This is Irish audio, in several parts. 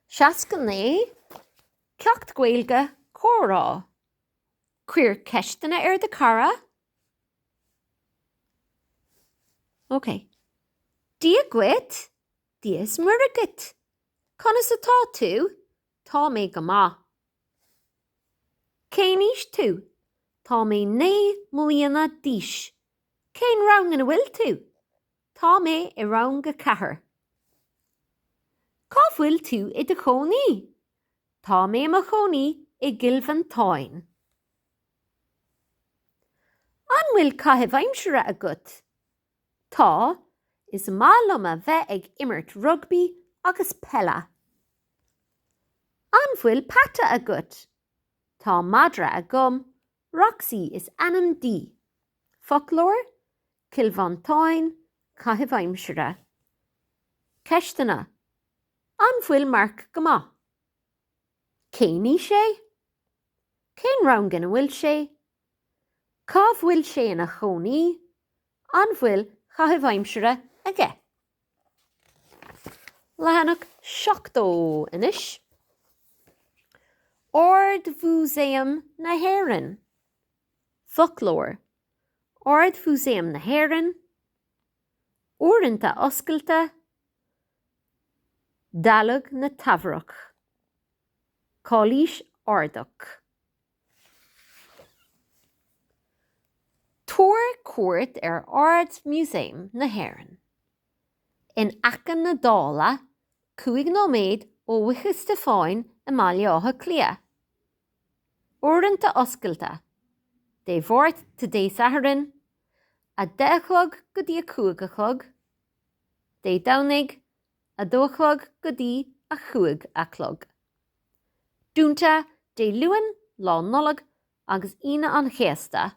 69 Ceacht Gaeilge, Comhrá. Cuir ceisteanna ar do chara. OK. Dia dhuit, Dia is Muire dhuit. Conas atá tú? Tá mé go maith. Cén aois tú? Tá mé naoi mbliana d'aois. Cén rang ina bhfuil tú? Tá mé i rang a ceathair. Cá bhfuil tú i do chónaí? Tá mé i mo chónaí i gCill Mhantáin. An bhfuil caitheamh aimsire agat? Tá, is maith liom a bheith ag imirt rugbaí agus peile. An bhfuil peata agat? Tá madra agam Roxy is ainm di. Foclóir, Cill Mhantáin, Caitheamh aimsire. Ceisteanna, An bhfuil Mark go maith? Cén aois é? Cén rang ina bhfuil sé? Cá bhfuil sé ina chónaí? An bhfuil chaitheamh aimsire aige? Leathanach 70 anois. Ard-Mhúsaem na hÉireann. Foclóir. Ard-Mhúsaem na hÉireann. Uaireanta oscailte. Dealg na Teamhrach. Cailís Ardach. Tabhair cuairt ar Ard-Mhúsaem na hÉireann. In aice na Dála, cúig nóiméad ó Fhaiche Stiofáin i mBaile Átha Cliath. Uaireanta oscailte, Dé Máirt go Dé Sathairn, a 10 a chlog go dtí a 5 a chlog, Dé Domhnaigh, a dó a chlog go dtí a cúig a chlog. Dúnta Dé Luain, Lá Nollag agus Aoine an Chéasta.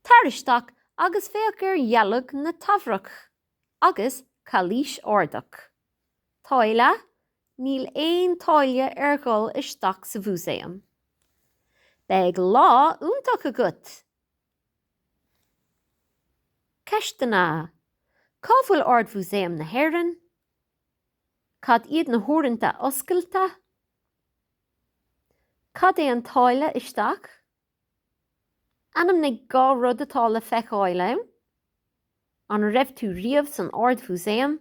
Tar isteach agus féach ar dhealg na Teamhrach agus Cailís Ardach. Táille, Níl aon táille ar dhul isteach sa Mhúsaem. Beidh lá iontach agat! Ceisteanna, Cá bhfuil Ard-Mhúsaem na hÉireann? Cad iad na huaireanta oscailte? Cad é an táille isteach? Ainmnigh dhá rud atá le feiceáil ann. An raibh tú riamh san Ard-Mhúsaem?